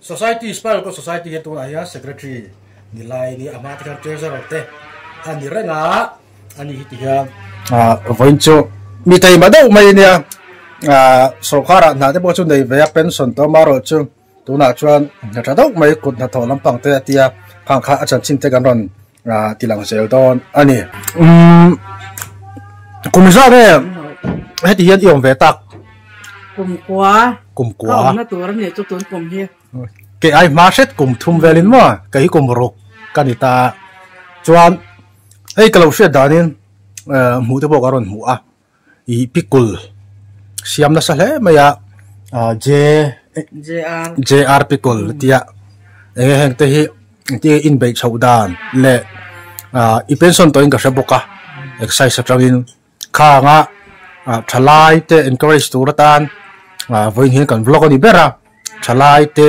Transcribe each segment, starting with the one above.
Society, Spiral Court Society hi tunah hian Secretary ni lai a ni, amah te hian Treasurer te a ni reng a, a ni hi ti hian. Vawiin chu mi taima deuh mai a nia, sawrkharah hnahte pawh chu nei ve a, pension tawm erawh chu tunah chuan hnaṭha deuh mai kut hnathawh lampang te a tia khang kha a chanchin te kan rawn. Aa ti lang zel dawn a ni. Umm, kum zah nge heti hian i awm ve tak? Kum kua. Kum kua. Ka awmna tur a ni chu tun kum hi. Kei ai hma hret kum thum vel in maw? Kei hi kum ruk ka ni ta. Chuan hei ka lo hriat danin hmuh te pawh ka rawn hmu a. ih pikul siam nasa hle mai a J JR pikul tia eng nge heng te hi engti nge inbeih chhoh dan leh ah i pension tawhin ka hre bawk a exercise atangin khanga ah tha lai te encourage tur atan ah vawiin hian kan vlog a ni ber a tha lai te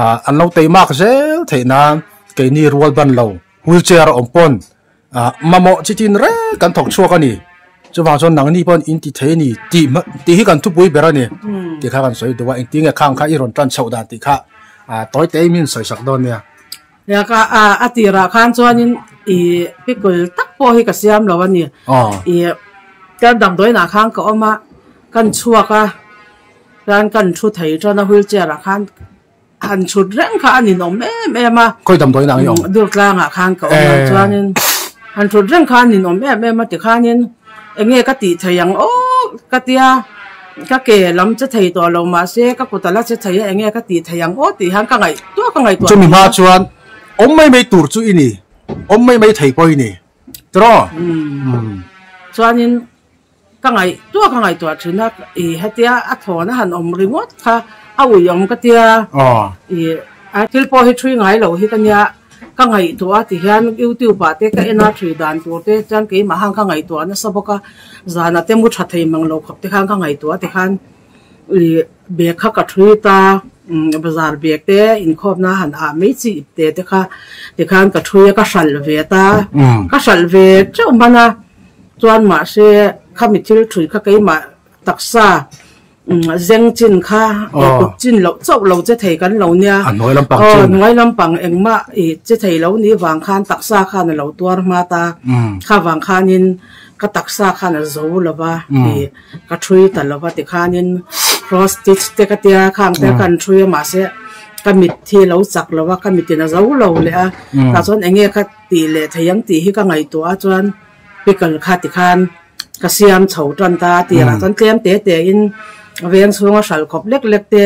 ah an lo tei mak zel theih nan keini rual ban lo wheelchair a awm pawn Ah, mamawh chi tin reng kan thawk chhuak a ni. Chuvang chuan nangni pawh in ti thei a ni tih hma tih hi kan thupui ber a ni tih kha kan sawi duh a, engtin nge khang kha i rawn tan chhoh dan tih kha ah tawi te i min sawi sak dawn nia. Nia ka ah a tirah khan chuanin i pickle tak pawh hi ka siam lo a ni. I ker damdawiinah khan ka awm a, kan chhuak a, chuan kan thu thei chuan a wheelchair ah khan Han chhut reng kha a ninawm em em a. Khawi dam dawi nangin awm. Durtlangah khan ka awm lo chuanin han chhut reng kha a ninawm em em a tikhanin enge ka tih thei ang awk ka tia ka ke lam che thei tawh lo mahse ka kut a la che thei a enge ka tih thei ang aw tih hian ka ngaih tuah ka ngaih tuah Chumi hma chuan awm mai mai tur chu i ni awm mai mai thei pawh i ni tiraw chuanin Ka ngaih tuah ka ngaihtuah thin a i hetia a thawn a han awm ringawt kha a ui awm ka tia i a thil pawh hi thui ngai lo hi ka nia ka ngaih tuah a ti hian youtube ah te ka en a thui dan tur te chuan keimah khan ka ngaihtuah nasa bawk a zan a te mu tha thei mang lo khawp te khan ka ngaihtuah a ti khan. Ih, bag kha ka treat a, bazar bag te inkhawpna han ah mai chi ip te te kha. Tikhan ka thui a, ka hralh ve ta, ka hralh ve teuh hman a, chuan mahse khami thil thui kha keimah taksa zeng chin kha tuk chin loh chauh lo che thei kan lo nia, aw hnuai lampang engmah ih che thei lo nih vang khan taksa khan a lo tuar hma ta, kha vang khanin ka taksa khan a zo lo va. Ka thui ta lo va ti khanin cross stitch te ka tia khang te kan thui a mahse ka mit hi a lo chak lo va ka mit in a zo lo leh a tah chuan eng nge ka tih leh thei ang tih hi ka ngaihtuah a chuan pickle kha ti khan ka siam chho tan ta a tiang ah chuan tlem teh teh in a veng chhung a hral khawp lek lek te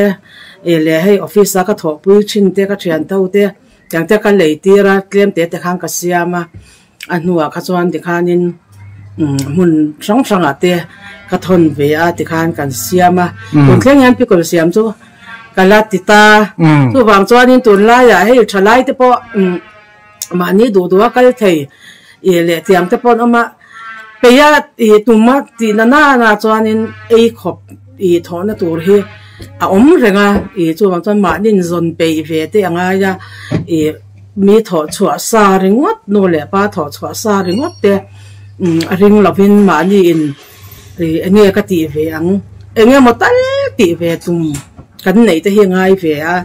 i leh hei office a ka thawhpui thin te ka thianto te tiang te ka lei tir a tlem teh teh khan ka siam a. a hnua kha chuan tikhanin umm hmun hrang hrangah te ka thawn ve a tikhan kan siam a tun thleng hian pickle siam chu ka la ti ta chuvang chuanin tun laiah hei tha lai te pawh umm mahni duh duh a kal thei ih leh tiang te pawh an awm a peia ih tuma tihna nana chuanin ei khawp ih thawhna tur hi a awm reng a ih chuvang chuan mahni in zawn peih ve te a ngai a ih-- Mi thawh chhuah sa ringawt nu leh pa thawh chhuah sa ringawt te a ring lo in mahni in eng nge ka tih ve ang, eng nge maw tal tih ve tum kan neih te hi a ngai ve a,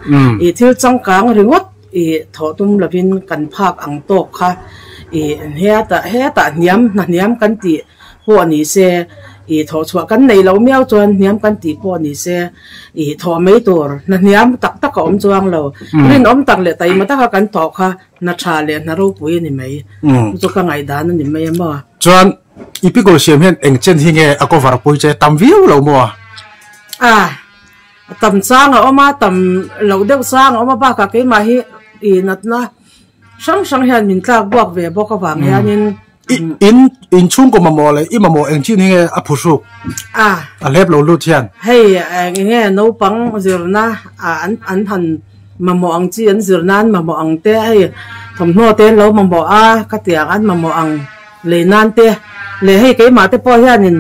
i thil changkang ringawt i thawh tum lo in kan phak ang tawk kha i hetah hetah hniam hnahniam kan tih. pawh ni se, ih thawh chhuah kan nei lo miau chuan hniam kan tih pawh ni se, ih thawh mai tur hna hniam tak tak a awm chuang lo. Rinawm tak leh taima taka kan tawh kha hna tha leh hna ropui a ni mai. Chu ka ngaihdan a ni mai a maw. Chuan i Pigaw siam hian eng chen hi nge a cover pui che? Tam viau lo maw? Ah, a tam chang a awm a, tam loh deuh chang a awm a, bakah keimah hi ih natna hrang hrang hian min tlak buak ve bawk avang hianin in in chhungkaw mamawh leh i mamawh eng chin hi nge a phu hruk a a hlep lo lut hian hei eng enge naupang zirna ah an an han mamawh ang chi an zir nan an mamawh ang te hei thawmhnaw te an lo mamawh a khatiang an mamawh ang lei nan te leh hei keimah te pawh hianin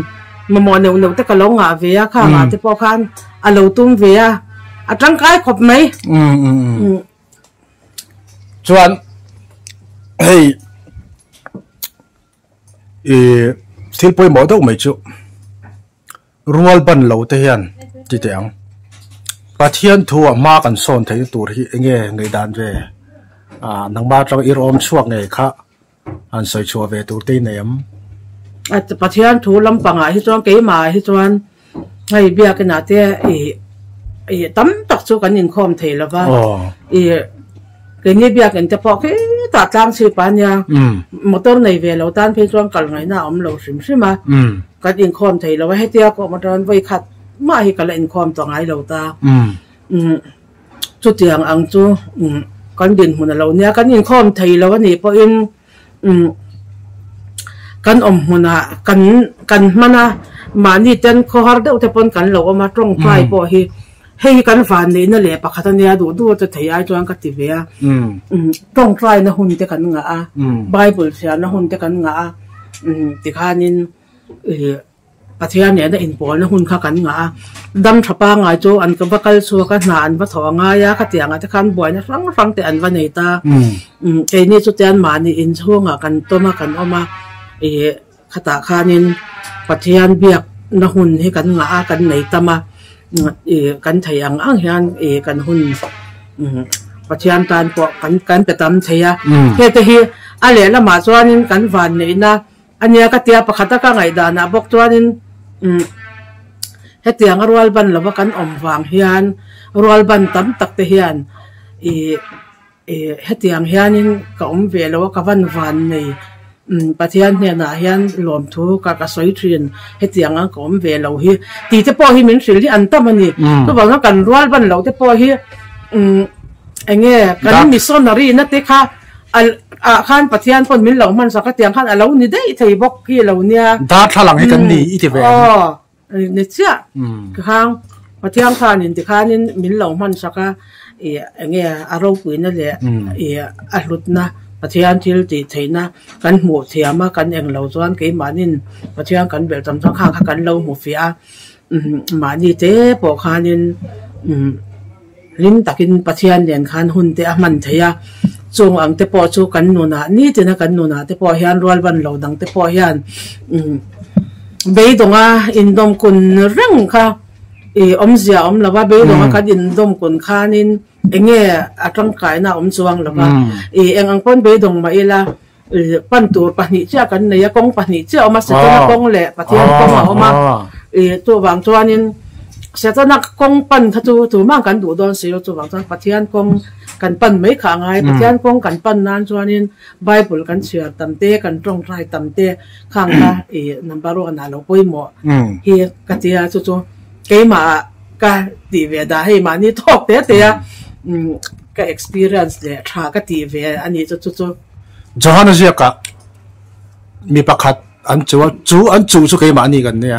mamawh neuh neuh te ka lo ngah ve a khangah te pawh khan a lo tum ve a a tangkai khawp mai. chuan hei ih thil pawimawh deuh mai chu rual ban lo te hian ti teh ang pathian thu ah hma kan sawn theih na tur hi enge ngaihdan ve a nangma atang erawh awm chhuak ngei kha. Han sawi chhuah ve tur te i nei am? Pathian thu lampangah hi chuan keimahah hi chuan hei biakinah te i i tam tak chu kan inkhawm thei lo va. I keini biakin te pawh khitah tlang chhip a nia, motor nei ve lo tan phei chuan kal ngaihna a awm lo hrim hrim a, kan inkhawm thei lo va, hetia pawh maw tan vawi khat mah hi ka la inkhawm tawh ngai lo ta. chutiang ang chu kan dinhmun a lo nia, kan inkhawm thei lo anih pawhin kan awm hmunah kan hman a, mahni ten khawhar deuh te pawn kan lo awm a, tawngtai pawh hi hei hi kan van neihna leh pakhat a nia, duh duh a che thei ai chuan ka ti ve a, tawngtaina hun te kan ngah a, Bible hriatna hun te kan ngah a, tikhanin ih. Pathian nena inpawlna hun kha kan ngah a, dam tha pangai chu an va kal chhuak a, hna an va tho a ngai a, khatiangah te khan buaina hrang hrang te an va nei ta. Keini chute anmahni inchhungah kan tawm a, kan awm a, ih, khatah khanin Pathian biakna hun hi kan ngah a, kan nei tam a, ih, kan thei ang ang hian ih, kan hun Pathian tan pawh kan kan pe tam thei a. Hete hi a lehlamah chuanin kan vanneihna. Ania ka tia pakhat a ka ngaihdanah bawk chuanin umm hetianga rual ban lova kan awm vang hian rual ban tam tak te hian ih ih hetiang hianin ka awm ve lo a ka van van nei umm Pathian hnenah hian lawmthu ka ka sawi thin hetiang ang ka awm ve lo hi tite pawh hi min hrilh hi an tam a ni chuvang a kan rual ban loh te pawh hi umm eng nge kan missionary nate kha A ah khan Pathian pawn min lo hmansak a tiang khan a lo ni daih thei bawk hi a lo nia. Darthlalang hi kan ni i ti ve ang. Aw, ni chiah. Khang Pathian khanin tikhanin min lo hmansak a, i eng nge a ropuina leh i a hlutna Pathian thil tih theihna kan hmuh thiam a, kan eng lo chuan keimahnin Pathian kan belh tam chuan khang kha kan lo hmu fiah a. Mahni te pawh khanin hlim takin Pathian nen khan hun te a hman thei a, chung ang te pawh chu kan nunah nitina kan nunah te pawh hian rual ban lo dang te pawh hian beidawngah indawm kun reng kha i awmzia awm lo va, beidawngah kan indawm kun khanin enge a tangkaina a awm chuang lo va, i eng ang pawn beidawng mah ila, Pan tur pahnih chiah kan nei a, kawng pahnih chiah a awm a, Setana kawng leh Pathian kawng a awm a. Chuvang chuanin Setana kawng pan kha chu tur mah kan duh dawn si lo, chuvang chuan Pathian kawng kan pan mai kha a ngai. Pathian kawng kan pan nan chuanin Bible kan chhiar tam te, kan tawngtai tam te khang kha number one ah lo pawimawh hi ka ti a, chu chu keimahah ka tih ve da hei mahni thawk te te a ka experience leh tha ka tih ve a ni chu chu chu. Johannesburg ah mi pakhat an chu a, chu an chu chu keimahni kan nia.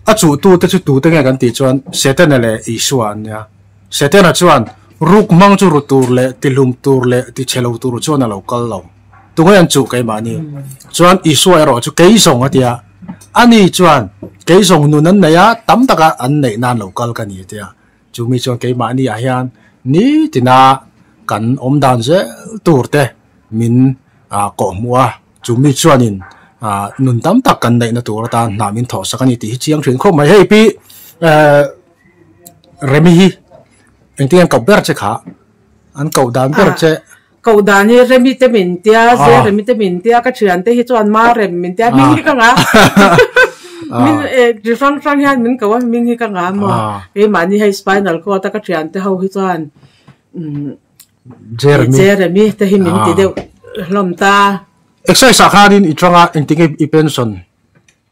A chu tu te chu tu te nge kan tih chuan Setana leh Isua an nia. Setana chuan ruk hmang chu ru tur leh ti hlum tur leh ti chhe lo tur chuan a lo kal lo. Tunge an chu keimahni. Chuan Isua erawh chu kei zawng a tia. Ani chuan kei zawng nun an nei a, tam taka an neih nan lo kal ka ni a tia. Chu mi chuan keimahni ah hian ni tina kan awm dan zel tur te min kawh hmu a, chu mi chuanin nun tam tak kan neihna tur atan hna min thawh sak a ni tih hi chiang thin khawp mai. Hei pi Remi hi engtin an koh ber che kha, an koh dan ber che. Koh dan hi remi te min tia, zia remi te min tia, ka thian te hi chuan ma rem min tia, hming hi ka ngah a, min e chi hrang hrang hian min koh a, hming hi ka ngah a maw, keimahni hei spinal cord a ka thian te ho hi chuan Jeremy te hi min ti deuh hlawm ta. Exercise ah khanin i tanga engtin nge i pension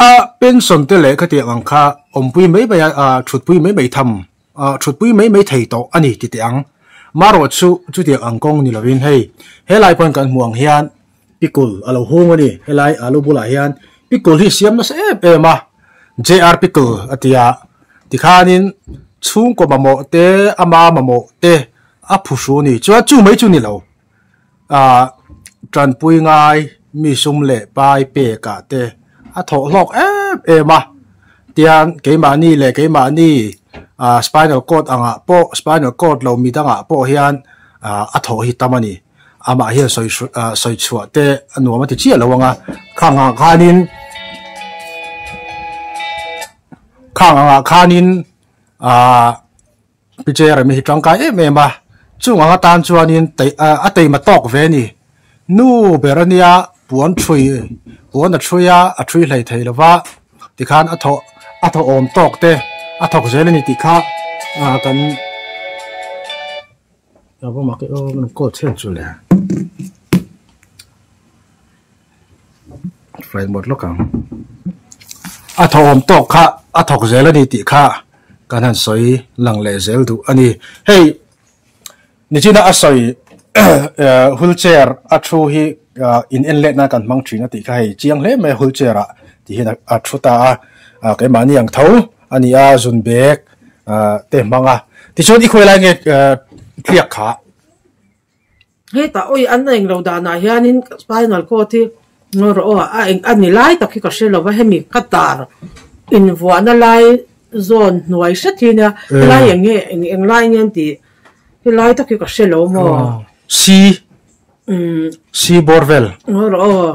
A pension te leh khatiang ang kha awmpui mai mai a thutpui mai mai tham thutpui mai mai thei tawh a ni ti teh ang. Marawh chu chutiang ang kawng ni lovin hei helai pawn kan hmuh ang hian pickle a lo hung a ni. Helai alu bulah hian pickle hi siam nasa em em a, JR pickle a ti a. Tikhanin chhungkaw mamawh te ama mamawh te a phu hru a ni. Chuan chu mai chu ni lo. ah tanpui ngai mi sum leh pai pek ah te a thawh hlawk em em a tiang keimahni leh keimahni ah spinal cord ang ah pawh spinal cord lo mi dang ah pawh hian ah a thawh hi tam a ni amah hian sawi hru ah sawi chhuah te a nuam a ti chiah lo ang a khang ah khan in khang ang ah khan in ah Pi che remi hi tangkai em em a, chung anga tan chuanin a teima tawk ve ni. Nu ber a nia, puan ṭhui, puan a ṭhui a, a ṭhui hlei thei lova tikhan a thaw, a thaw awm tawk te a thawk zel a ni tih kha kan ringawm a. Flight mode lawk ang. A thawhawm tawk kha a thawk zel a ni tih kha kan han sawi lang leh zel duh a ni. Hei Nijina a sawi wheelchair a thu hi in-en let nan kan hmang thin a tih kha hei chiang hle mai a wheelchair ah tih hian a thu ta a. Keimahni ang tho a ni a, zun bag te hmang a. Tichuan i khawi lai nge tliak kha Hetah awi an rawn englo danah hianin spinal cord hi ngaw rawh aw a eng a ni lai tak hi ka hre lo va hemi cutter invuahna lai zawn hnuai hre thin nia helai eng nge eng eng lai nia ni tih helai tak hi ka hre lo maw C C borvel ngaw rawh aw.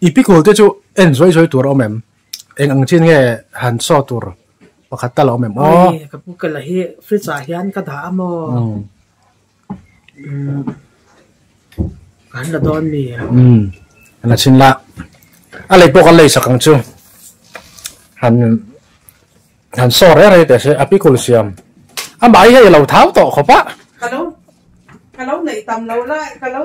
I pickle te chu en zuai zuai tur a awm em? Eng ang chin nge han saw tur pakhat ta la awm em aw? Hoi, ka pickle hi fridge ah hian ka dah a maw? Umm. Umm. Ka han la dawn mi a. Umm. Ka la chin la. A lei pawh ka lei sak ang chu. Han han saw rei rei teh se a pickle siam. Amah hi hei a lo thau tawh khawp a. Ka lo ka lo neih tam lo la ka lo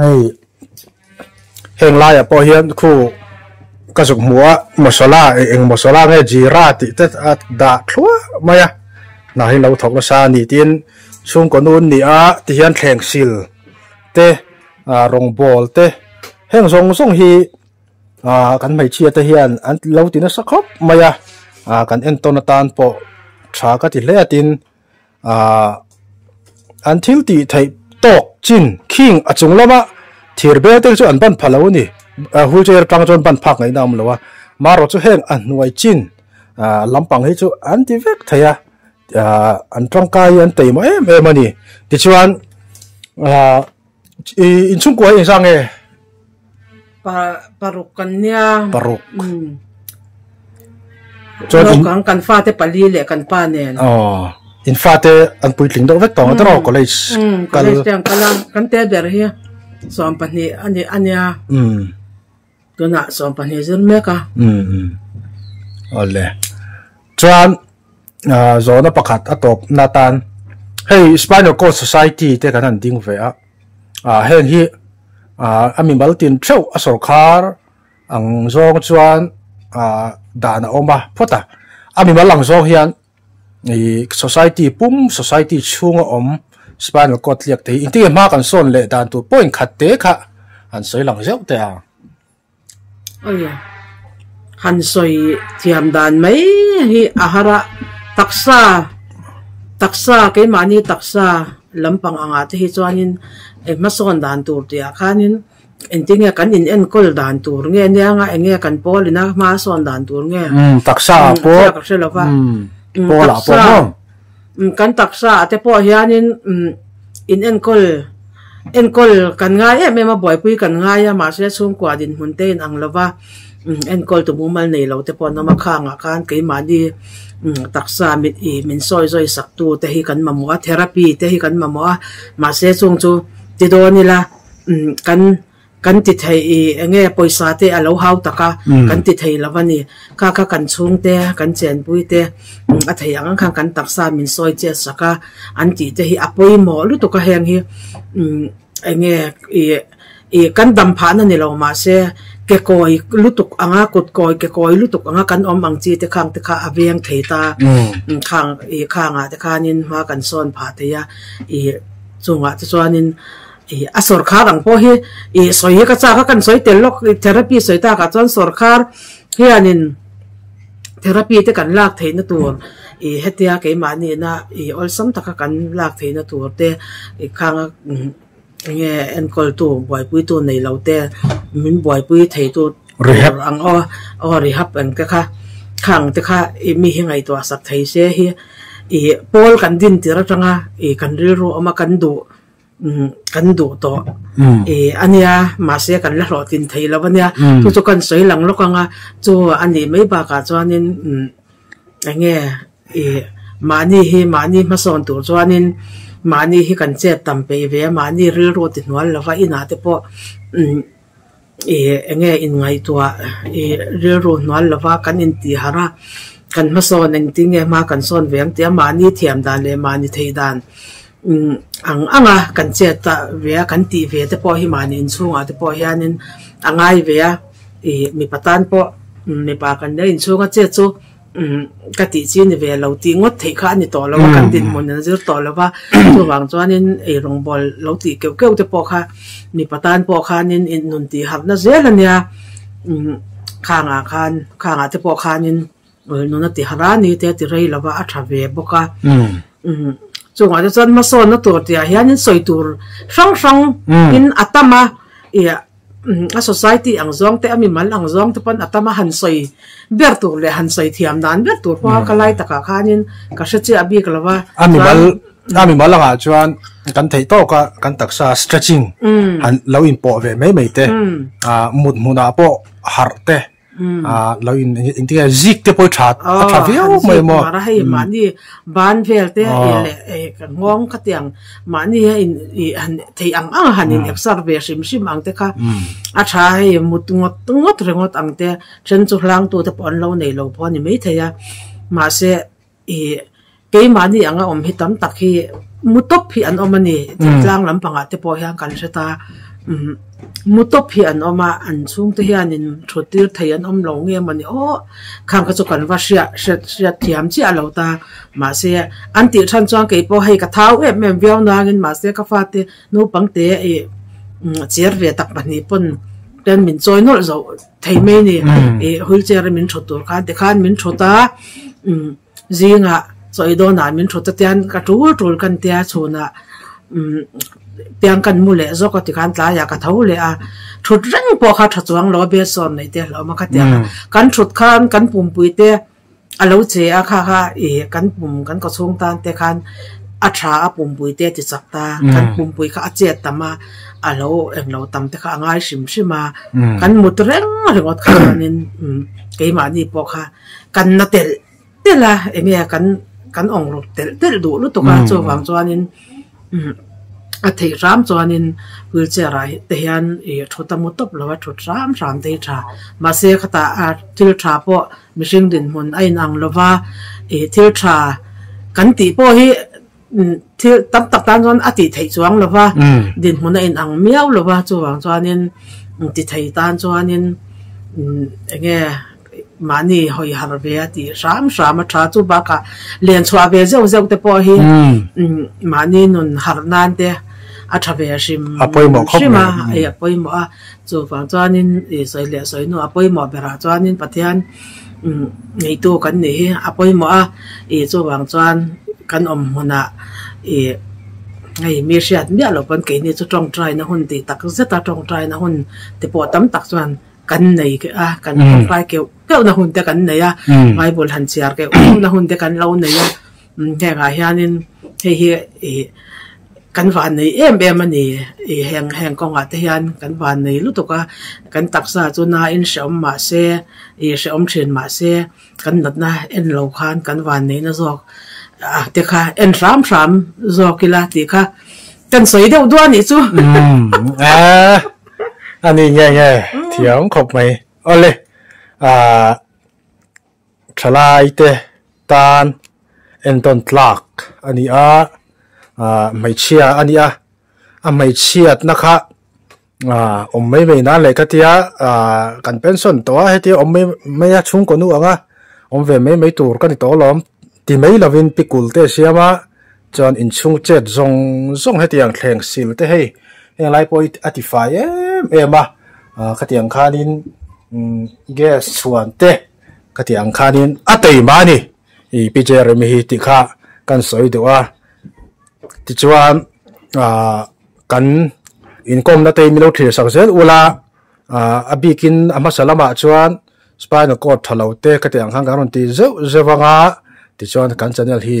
Hei heng lai ah pawh hian khu ka zuk hmu a masala e eng masala nge jira tih te a dah thluah mai a hna hi lo thawk nasa a ni tin chhungkaw nu an ni a ti hian thleng sil te ah rawngbawl te heng zawng zawng hi ah kan hmeichhia te hian an lo ti nasa khawp mai a ah kan entawn atan pawh tha ka ti hle a tin. Aah an thil tih theih tawk chin khing a chung lama thir bel te chu an ban phah lo a ni, wheel chair atang chuan ban phak ngaihna a awm lo a, Maro chu heng a hnuai chin lampang hi chu an ti vek thei a, an tangkai hi an tei maw em em a ni, tichuan aah. I inchhungkua hi inzang nge? Paruk kan nia. Paruk. Hmm. Chuan kan kan fa te pali le kan pa nen. Oh. In fa te an pui tling deuh vek tawng ata raw college. Hmm. College te ang kala kan te ber hi. Sawm pahnih ani ania. Hmm. tunah sawm pahnih zir mek a awle chuan zawna pakhat a tawp na tan hei spinal cord society te kan han ding ve a heng hi a mi mal tin theuh a sawrkhar ang zawng chuan dan a awm a phawt a a mi mal ang zawng hian ihh society pum society chhunga awm spinal cord tliak thei engtin nge hma kan sawn leh dan tur pawh inkhat te kha han sawi lang zeuh te a. Awle han sawi thiam dan mai hi ahara taksa taksa keimahni taksa lampang anga te hi chuanin engh hma sawn dan tur tih ah khanin. Engtin nge kan in enkawl dan tur nge niang a, enge kan pawl in a hma a sawn dan tur nge? Umm taksa ah pawh, taksa ah ka hre lo va, umm pawl ah pawh maw? Umm kan taksa ah te pawh hian in umm in enkawl, enkawl kan ngai em em a buaipui kan ngai a mahse chhungkua dinhmun te in ang lo va, umm enkawl tu mumal nei lo te pawh an awm a, khang ah khan keimahni umm taksa mit ih min sawi zawi sak tu te hi kan mamawh a, therapy te hi kan mamawh a, mahse chung chu ti dawn ila. kan kan ti thei i eng nge pawisa te a lo hau tak a kan ti thei lo va ni. Kha kha kan chhungte, kan chenpuite a thei ang ang khan kan taksa min sawi chiat sak a, an tih te hi a pawimawh lutuk a heng hi eng nge i kan dam phahna ni lo mah se kekawi lutuk anga kutkawi kekawi lutuk anga kan awm ang chi te khang te kha a veng thei ta. Khang i khangah te khanin hma kan sawn phah thei a, i chungah te chuanin. A sorkar ang pawh hi sawi hi ka chak a, kan sawi tel lawk a, therapy sawi takah chuan sorkar hianin therapy te kan lak theihna tur hetia keimahnihna awlsam taka kan lak theihna tur te khanga enge enkawltu buaipuitu nei lo te min buaipui theitu tur ang aw, aw rehab ang te kha kha ang te kha mi hi ngaihtuah sak thei se hi pawl kan din tir atanga kan rilru awm a, kan duh. kan duh tawh a nia mahse kan la hlawhtling thei lo a nia chu chu kan sawi lang lawk ang a chu a nih mai bakah chuanin eng nge ih mahni hi mahni hmasawn tur chuanin mahni hi kan chet tam peih ve a mahni rilru ti hnual lova inah te pawh-- I eng nge in ngaihtuah i rilru hnual lova kan in tihar a, kan hmasawn engtin nge hma kan sawn ve ang tia mahni thiam dan leh mahni theih dan ang anga kan chet ta ve a, kan tih ve te pawh hi mahni in chhungah te pawh hian in a ngai ve a, i mipa tan pawh mipa kan lo in chhung a chet chu Ka tih chi ni ve lo tih ngawt theih kha a ni tawh lo a, kan dinhmun an zir tawh lo va. Chuvang chuanin eirung bawl lo tih keuh keuh te pawh kha mipa tan pawh khanin innun tih harhna zel a nia. Khangah khan, khangah te pawh khanin innun a ti harh a ni te ti rei lo va a tha ve bawk a. Chungah te chuan hmasawnna tur tihah hianin sawi tur hrang hrang in a tam a. a society ang zawng te a mimal ang zawng te pawn a tam a han sawi ber tur leh han sawi thiam dan ber tur pawh a ka lai takah khanin ka hre chiah bik lo va a mimal a mimal angah chuan kan thei tawk a kan taksa stretching han lo inpawh ve mai mai te a mut hmunah pawh harh te a lo in in tia zik te pawh tha a tha viau mai mo a hei mahni ban vel te i leh ka nghawng ka tiang mahni a in i han thei ang ang a han in exer ve hrim hrim ang te kha a tha hei mut ngawt ngawt ringawt ang te a then chu hlang tu te pawh an lo nei lo pawh a ni maithei a mahse ih keimahni anga awm hi tam tak hi mu tawp hi an awm a ni chin tlang lampangah te pawh hian kan hre ta mu tawp hi an awm a an chhungte hianin thuttir thei an awm lo nge mawni aw khang kha chu kan va hriat hriat hriat thiam chiah a lo ta mahse an tih than chuan kei pawh hei ka thau em em viau nangin mahse ka fate naupangte ih chêr ve tak pahnih pawn ten min chawi nawlh zawh. Thei mai ni, ih wheelchair a min thawt tur khan tikhan min thawt a, umm zingah sawi dawnah min thawt atian ka tul tul ka tia chhunah umm piang ka mu leh zawk a tikhan tlaiah ka tho leh a, thut reng pawh kha tha chuang lo a best sawn neih te hlawm a ka tiang a, kan thut khan kan pumpuite. a lo che a kha kha i kan pum kan kawchhung tan te khan a tha a pumpui te a ti chak ta kan pumpui kha a chet tam a a lo eng lo tam te kha a ngai hrim hrim a kan mut reng ringawt kha chuanin keimahni pawh kha kan na telh telh a eng nge kan kan awng ruk telh telh duh lutuk a chuvang chuanin a theih hram chuanin wheelchair ah te hian ih thut a mu tawp lo a thut hram hram daih tha mahse khata a thil tha pawh-- Mihring dinhmun a in ang lo va, ih thil tha kan tih pawh hi thil tam tak tan chuan a tih theih chuang lo va, dinhmun a in ang miau lo va, chuvang chuanin ti thei tan chuanin eng nge mahni hawi har ve a tih hram hram a tha, chu bakah lian chhuah ve zeuh zeuh te pawh hi mahni nun harh nan te a tha ve hrim hrim a, a pawimawh a. Chuvang chuanin ih sawi leh sawi nu a pawimawh berah chuanin Pathian umm ngeitu kan nih hi a pawimawh a, ih chuvang chuan kan awm hunah ih hei mi hriat miah lo pawn keini chu tawngtaina hun tih tak zeta tawngtaina hun te pawh tam tak chuan kan nei keh a, kan tawngtai keuh keuhna hun te kan nei a, Bible han chhiar keuh keuhna hun te kan lo nei a. Hengah hianin hei hi ih kan van nei em em a ni. Ih heng heng kawngah te hian kan van nei lutuk a, kan taksa chu naiin hrehawm mah se, ih hrehawm thin mah se kan natna en lo khan kan van neihna zawk ah te kha en hram hram zawk ila tih kha kan sawi deuh duai a nih chu. Aaa a ni nge nge thiam khawp mai. Awle aa Thalaite tan entawn tlak a ni a, hmeichhia a ni a, a hmeichhiatna kha awm mai mai nan leh ka tia kan pension tawh a, hetia awm mai mai a chhungkaw nu anga awm ve mai mai tur ka ni tawh alawm ti mai lovin pikul te a siam a, Chuan inchhungchet zawng zawng hetiang thleng sil te hei heng lai pawh a tifai em em a, khatiang khanin gas chhuan te khatiang khanin a tei mah a ni i Pijer emi hi tih kha kan sawi duh a, tichuan kan inkawmna te hi min lo thlir sak zel ula a bikin a hmasa lamah chuan spinal cord tha lo te khatiang khan kan rawn ti zeuh zeuh ang a, tichuan kan channel hi